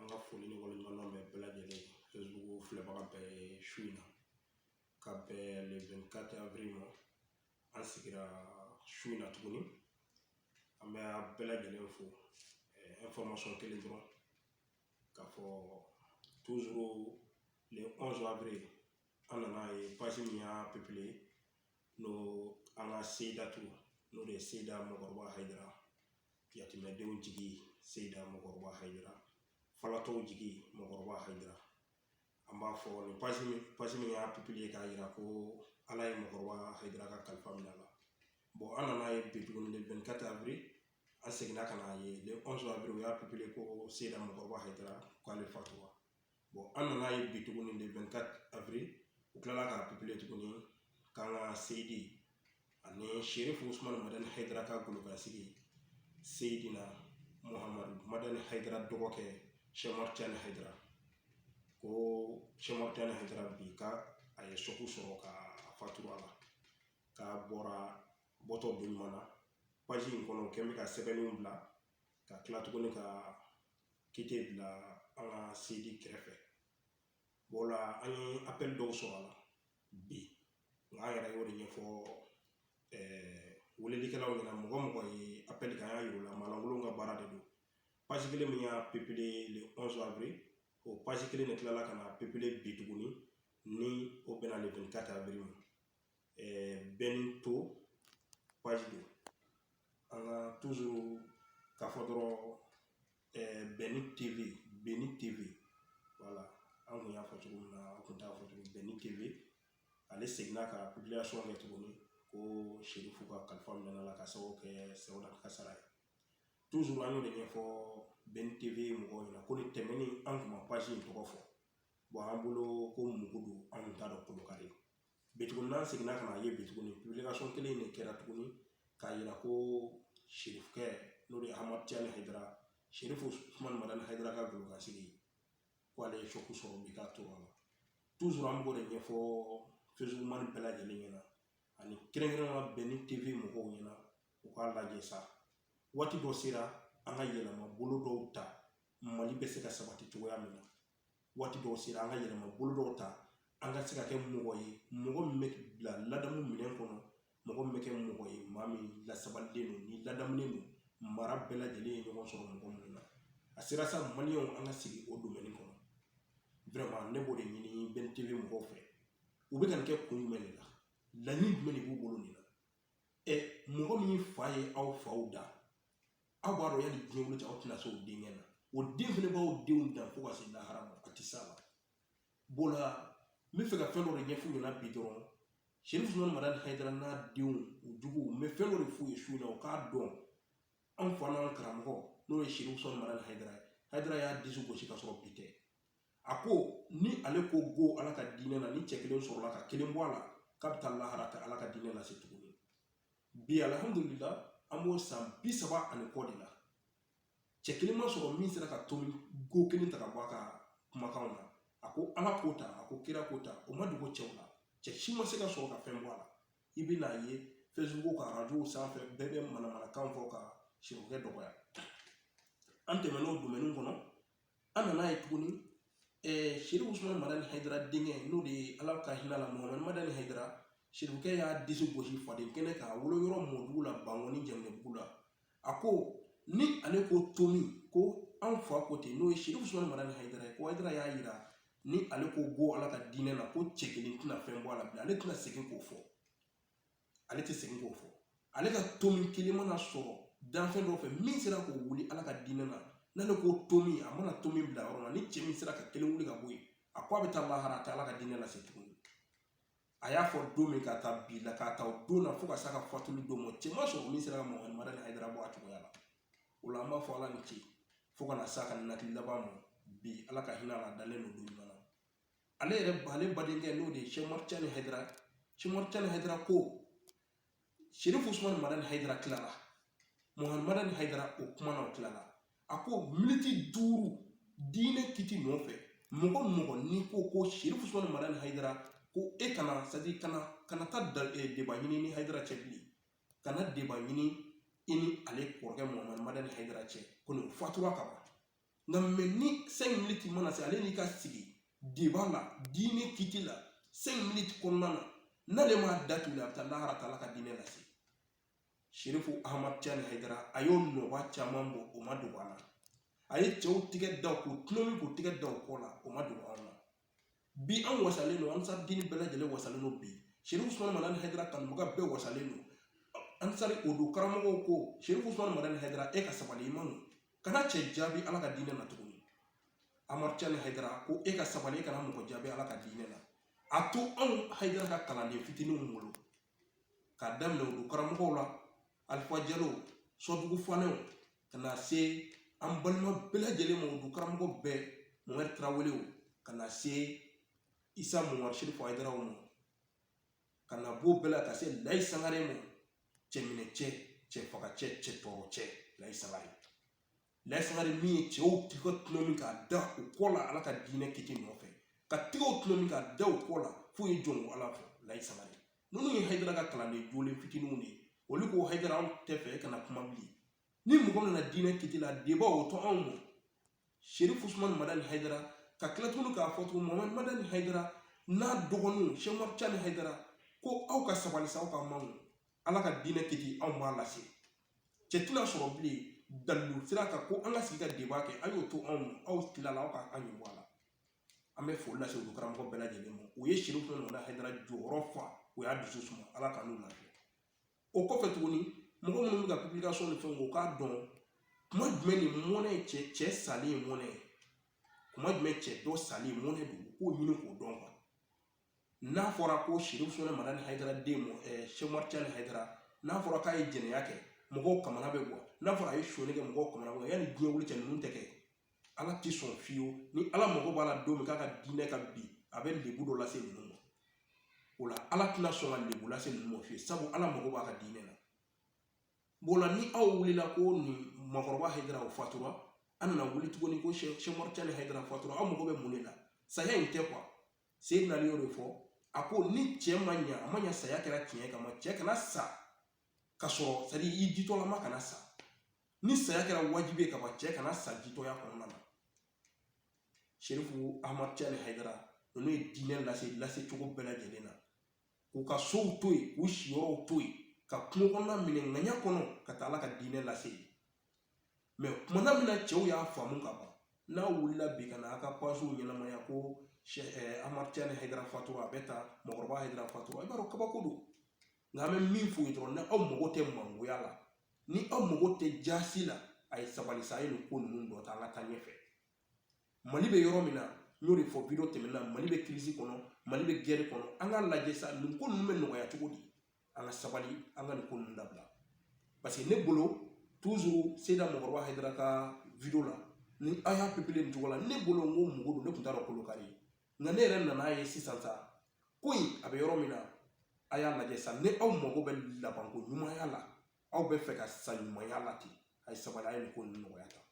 an ka foli ni waleɲumandɔn bɛ bɛɛ lajɛlen facebook filɛbaga bɛɛ ye su in na ka bɛn le 24 avril ma an sigira su in na tuguni an bɛ a bɛɛ lajɛlen fo information kelen dɔrɔn k'a fɔ toujours le 11 avril an nana ye page min y'a publié n'o an ka seyidatu n'o de ye seyida mɔgɔkɔrɔba hayidara yatimɛdenw jigi seyida mɔgɔkɔrɔba hayidara falatɔw jigi mɔgɔkɔrɔba hayidara an b'a fɔ ni page min y'a publié k'a yira ko ala ye mɔgɔkɔrɔba hayidara ka kalifa minɛ a la bon an nana ye bi tuguni le 24 avril an seginna ka na ye le 11 u y'a publié ko seyida mɔgɔkɔrɔba hayidara k'ale fatura an nana ye bi tuguni de afiri u kilala ka pipiniyɛri tuguni k'an ka seyidi ani seri fo sumana mɔdɛli hɛrɛ ka golo ka sigi seyidi na muhamadu mɔdɛli hɛrɛ dɔgɔkɛ sɛmari cɛ ni hɛrɛ ko sɛmari cɛ ni hɛrɛ bi ka a ye sɔku sɔrɔ ka faturu a la k'a bɔra bɔtɔ bonyana in kɔnɔ kɛn bɛ ka sɛbɛnniw bila ka kila tuguni ka kite bila an ka seyidi kɛrɛfɛ bon la an ye appel dɔw sɔrɔ a la bi nka an yɛrɛ y'o de ɲɛfɔ welelikɛlaw ɲɛna mɔgɔ mɔgɔ ye appel kɛ an y'a yir'u la maalankolon ka baara de don page kelen min y'a publié le onze avril o page kelen de tilala ka n'a publié bi tuguni ni o bɛnna le 24 avril ma bɛnni TV page don an ka toujours k'a fɔ dɔrɔn bɛnni TV voilà an kun y'a fɔ cogo min na an kun t'a fɔ cogo bɛnni TV ale seginna ka publication kɛ tuguni ko serifu ka kalifa minɛ la ka sababu kɛ seyida kasara ye toujours an y'o de ɲɛfɔ bɛnni TV mɔgɔw ɲɛna ko ni tɛmɛni an kun ma page in tɔgɔ fɔ bon an bolo ko mugu don an kun t'a dɔn kolokari Bi tuguni n'an seginna ka na ye bi tuguni publication kelen de kɛra tuguni k'a yira ko serifukɛ n'o de ye ahmad tijani hayidara serifu usumani madani hayidara ka golokasigi ko ale ye choc sɔrɔ bi ka to a la toujours an b'o de ɲɛfɔ facebook mani bɛɛ lajɛlen ɲɛna ani kɛrɛnkɛrɛnnenya bɛnni TV mɔgɔw ɲɛna u k'a lajɛ sa waati dɔ sera an ka yɛlɛma bolo dɔw ta mali bɛ se ka sabati cogoya min na waati dɔw sera an ka yɛlɛma bolo dɔw ta an ka se ka kɛ mɔgɔ ye mɔgɔ min bɛ bila ladamu minɛn kɔnɔ mɔgɔ min bɛ kɛ mɔgɔ ye maa min lasabalilen don ni ladamulen don mara bɛɛ lajɛlen ye ɲɔgɔn sɔrɔ mɔgɔ minnu na a sera sa maliyɛnw an ka sigi o domaine kɔnɔ vraiment ne b'o de ɲini bɛnni TV mɔgɔw fɛ u bɛ ka nin kɛ kun jumɛn de la laɲini jumɛn de b'u bolo nin na ɛ mɔgɔ min fa ye aw faw da aw b'a dɔn yani diɲɛ wuli cɛ aw tɛna se o denkɛ na o den fɛnɛ b'aw denw dan fo ka se lahara ma a tɛ s'a la bon la n bɛ fɛ ka fɛn dɔ de ɲɛf'u ɲɛna bi dɔrɔn sɛrifu usumani madani hayidara n'a denw u juguw n bɛ fɛn dɔ de f'u ye su in na u k'a dɔn anw fa n'an karamɔgɔ n'o ye sɛrifu usumani madani hayidara ye hayidara y'a disi gosi ka sɔrɔ bi tɛ a ko ni ale ko go ala ka diinɛ na ni cɛ kelen sɔrɔla ka kelen bɔ a la k'a bɛ taa lahara k'a t'ala ka diinɛ lase tuguni bi alihamudulila an b'o san bi saba ani kɔ de la cɛ kelen ma sɔrɔ min sera ka tomi ko kelen ta ka bɔ a ka kumakanw na a ko ala k'o ta a ko kira k'o ta o ma dogo cɛw la cɛ si ma se ka sɔrɔ ka fɛn bɔ a la i bɛn'a ye facebook ka arajow sanfɛ bɛɛ bɛ manamanakan fɔ ka sɛrifukɛ dɔgɔya an tɛmɛn'o domɛni kɔnɔ an nana ye tuguni sɛrifu usumani madani hayidara denkɛ n'o de ye ala ka hinɛ a la muhamadu madani hayidara sɛrifukɛ y'a disi gosi faden kɛnɛ kan a wolo yɔrɔ mɔdugu la bankɔni janginɛbugu la a ko ni ale ko tomi ko anw fa ko ten n'o ye sɛrifu usumani madani hayidara ye ko hayidara y'a yira ni ale ko go ala ka diinɛ na ko cɛ kelen tɛna fɛn bɔ a la bilen ale tɛna segin k'o fɔ ale tɛ segin k'o fɔ ale ka tomi kelen mana sɔrɔ danfɛn dɔ fɛ min sera k'o wuli ala ka diinɛ na n'ale ko tomi a mana tomi bila yɔrɔ la ni cɛ min sera ka kelen wuli ka bɔ yen a ko a bɛ taa lahara a tɛ ala ka diinɛ lase tuguni a y'a fɔ don min ka taa bi la k'a ta o don na fo ka s'a ka fatuli don ma cɛ ma sɔrɔ min sera ka muhamadu madani hayidara bɔ a cogoya la o la an b'a fɔ ala ni ce fo ka na s'a ka nakili laban ma bi ala ka hinɛ a la a dalen don don min na ale yɛrɛ ale badenkɛ n'o de ye sɛrifu ahmad tijani hayidara sɛrifu ahmad tijani hayidara ko sirifu usumani madani hayidara tilala muhamadu madani hayidara o kuma na o tilala a ko miniti duuru diinɛ kiti nɔfɛ mɔgɔ mɔgɔ n'i ko ko sirifu usumani madani hayidara ko e kana c'est-à-dire kana kana taa da deba ɲini i ni hayidara cɛ bilen kana deba ɲini i ni ale kɔrɔkɛ muhamadu madani hayidara cɛ ko nin fatura ka ban nka mɛ ni cinq minutes mana se ale n'i ka sigi deba la diinɛ kiti la cinq minutes kɔnɔna na n'ale m'a datugu a bɛ taa lahara t'ala ka diinɛ lase sherifu ahmad tijani hayidara a y'o nɔba caman bɔ o ma dogo an na a ye cɛw tigɛ da k'u tɔnɔmi k'u tigɛ da o kɔ la o ma dogo anw na bi an wasalen don ansar dine bɛɛ lajɛlen wasalen don bi sirifu usumani madani hayidara kanubaga bɛɛ wasalen don ansari o don karamɔgɔw ko sirifu usumani madani hayidara e ka sabali i man kana cɛ jaabi ala ka diinɛ na tuguni ahmad tijani hayidara ko e ka sabali e kana mɔgɔ jaabi ala ka diinɛ na a to anw hayidara ka kalanden fitininw bolo k'a daminɛ o don karamɔgɔw la alifa jalow sɔdugu fanɛw ka na se an balima bɛɛ lajɛlen ma o du karamɔgɔ bɛɛ mohamɛdi tarawelew ka na se isa mohamɛdi serifu hayidaraw ma ka na b'o bɛɛ la ka se layi sangare ma cɛminɛcɛ cɛfagacɛ cɛtɔɔrɔcɛ layi sangare layi sangare min ye cɛw tɛgɛ tɔlɔmi k'a da u kɔ la ala ka diinɛ kiti nɔfɛ ka tɛgɛw tɔlɔmi k'a da u kɔ la f'u ye jɔn ko ala fɔ layi sangare ninnu ye hayidara ka kalanden jolen fitininw de ye olu ko hayidara anw tɛ fɛ e kana kuma bilen ni mɔgɔ nana diinɛ kiti la deba o to anw ma serifu usumani madani hayidara ka tila tuguni k'a fɔ tugun mamadu madani hayidara n'a dɔgɔninw seyidi ahmad tijani hayidara ko aw ka sabali sa aw ka mangu ala ka diinɛ kiti anw b'a lase cɛ tɛna sɔrɔ bilen dalilu sira kan ko an ka sigi ka deba kɛ a y'o to anw ma aw tilala aw ka an ɲɛ bɔ a la an bɛ foli lase olu karamɔgɔ bɛɛ lajɛlen ma u ye serifu usumani madani hayidara jɔyɔrɔ fa u y'a dusu suma ala ka n'u lafiya o kɔfɛ tuguni mɔgɔ minnu bɛ ka publication ni fɛnw u k'a dɔn kuma jumɛn ni mɔnɛ cɛ cɛ salen ye mɔnɛ ye kuma jumɛn cɛ dɔ salen mɔnɛ don u k'o ɲini k'o dɔn n'a fɔra ko serifu usumani madani hayidara den seyidi ahmad tijani hayidara n'a fɔra k'a ye jɛnɛya kɛ mɔgɔw ka mɔnɛ bɛ bɔ n'a fɔra a ye sonyali kɛ mɔgɔw ka mɔnɛ bɛ bɔ yanni diɲɛ wuli cɛ ninnu tɛ kɛ ala tɛ sɔn fiyewu ni ala mago b'a la don min k'a ka diinɛ ka bin a bɛ lebu dɔ lase ninnu ma o la ala tɛna sɔn ka lebu lase ninnu ma fiyewu sabu ala mago b'a ka diinɛ na b'o la ni aw wulila ko nin mɔgɔkɔrɔba hayidara o fatura an nana wuli tuguni ko seyidi ahmad tijani hayidara fatura aw mago bɛ mun de la saya in tɛ quoi Seyidina Ali y'o de fɔ a ko ni cɛ ma ɲa a ma ɲa saya kɛra tiɲɛ ka ban cɛ kana sa ka sɔrɔ c'est-à-dire i jitɔlama kana sa ni saya kɛra wajibi ye ka ban cɛ kana sa jitɔya kɔnɔna na serifu ahmad tijani hayidara ninnu ye diinɛ lase lase cogo bɛɛ lajɛlen na k'u ka sow to yen k'u siyɔrɔw to yen ka kungo kɔnɔna minɛ ŋaɲa kɔnɔ ka taa ala ka diinɛ lase yen mais kuma na min na cɛw y'a faamu ka ban n'aw wulila bi ka na a ka pagew ɲɛnamaya ko ahmad tijani hayidara fatura a bɛ ta mɔgɔkɔrɔba hayidara fatura i b'a dɔn kabako don nka an bɛ min f'u ye dɔrɔn ni aw mago tɛ mangoya la ni aw mago tɛ jaasi la a ye sabali sa a ye nin ko ninnu to tan an ka taa ɲɛfɛ mali bɛ yɔrɔ min na n y'o de fɔ video tɛmɛna mali bɛ crise kɔnɔ mali bɛ guerre kɔnɔ an ka lajɛ sa nin ko ninnu bɛ nɔgɔya cogo di an ka sabali an ka nin ko ninnu dabila parce que ne bolo toujours seyida mɔgɔkɔrɔba hayidara ka video la ni an y'a pepele nin cogo la ne bolo n ko mugu don ne tun t'a dɔn kolo kari nka ne yɛrɛ nan'a ye sisan sa ko in a bɛ yɔrɔ min na a y'a lajɛ sa ni aw mago bɛ labanko ɲumanya la aw bɛ fɛ ka sa ɲumanya la ten a ye sabali a ye nin ko ninnu nɔgɔya tan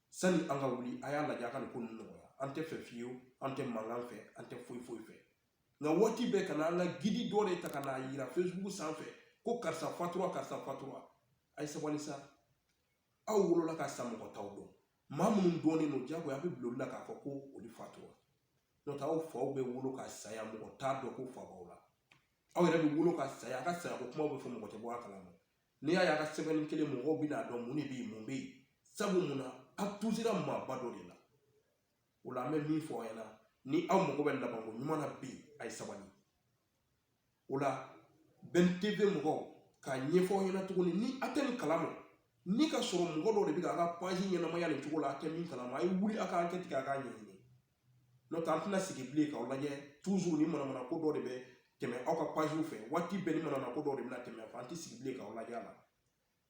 sani an ka wuli a y'a lajɛ a ka nin ko ninnu nɔgɔya an tɛ fɛ fiyewu an tɛ mankan fɛ an tɛ foyi foyi fɛ nka waati bɛɛ ka na an ka gidi dɔ de ta ka n'a yira facebook sanfɛ ko karisa fatura karisa fatura a ye sabali sa aw wolola ka sa mɔgɔ t'aw dɔn maa minnu dɔnnen don jagoya a bɛ bila olu la k'a fɔ ko olu fatura n'o tɛ aw faw bɛ wolo ka saya mɔgɔ t'a dɔn ko fa b'aw la aw yɛrɛ bɛ wolo ka saya a ka sayako kumaw bɛ fɔ mɔgɔ tɛ bɔ a kalama n'i y'a ye a ka sɛbɛnni kelen mɔgɔw bɛn'a dɔn mun de bɛ yen mun bɛ yen sabu mun na a tusira maaba dɔ de la o la an bɛ min fɔ aw ɲɛna ni aw mago bɛ labanko ɲuman na bi a ye sabali o la bɛn tv mɔgɔw k'a ɲɛfɔ aw ɲɛna tuguni ni a tɛ nin kalama ni ka sɔrɔ mɔgɔ dɔ de bɛ k'a ka paji ɲɛnamaya nin cogo la a tɛ min kalama a ye wuli a ka ankɛti kɛ a k'a ɲɛɲini n'o tɛ an tɛna sigi bilen k'aw lajɛ toujours ni manamana ko dɔ de bɛ tɛmɛ aw ka pajiw fɛ waati bɛɛ ni manamana ko dɔ de bɛna tɛmɛ an tɛ sigi bilen k'aw lajɛ a la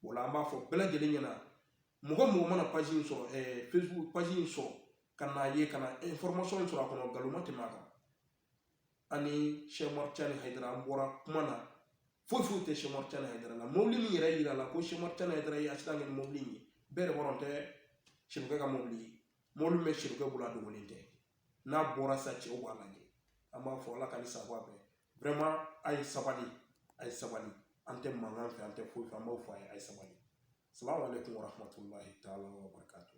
o la an b'a fɔ bɛɛ lajɛlen ɲɛna mɔgɔ mɔgɔ mana paji in sɔrɔ ɛɛ facebook paji in sɔrɔ ka n'a ye ka na information in sɔrɔ a kɔnɔ nkalon ma tɛmɛ a kan ani sɛku umaru tijani hayidara an bɔra kuma na foyi foyi tɛ sɛku umaru tijani hayidara la mobili min yɛrɛ yirala ko sɛku umaru tijani hayidara ye asidan kɛ ni mobili in ye bɛɛ de b'a dɔn tɛ sɛmɔkɛ ka mobili ye mɔbili min bɛ siri kɛ bolo a dogolen tɛ n'a bɔra sa cɛw b'a lajɛ an b'a fɔ ala ka ni sabu bɛɛ vraiment a ye sabali a ye sabali an tɛ mankan fɛ an tɛ foyi fɛ an b'a fɔ a ye a ye sabali salamu aleykum wa rahmatulahi taala wa barakatu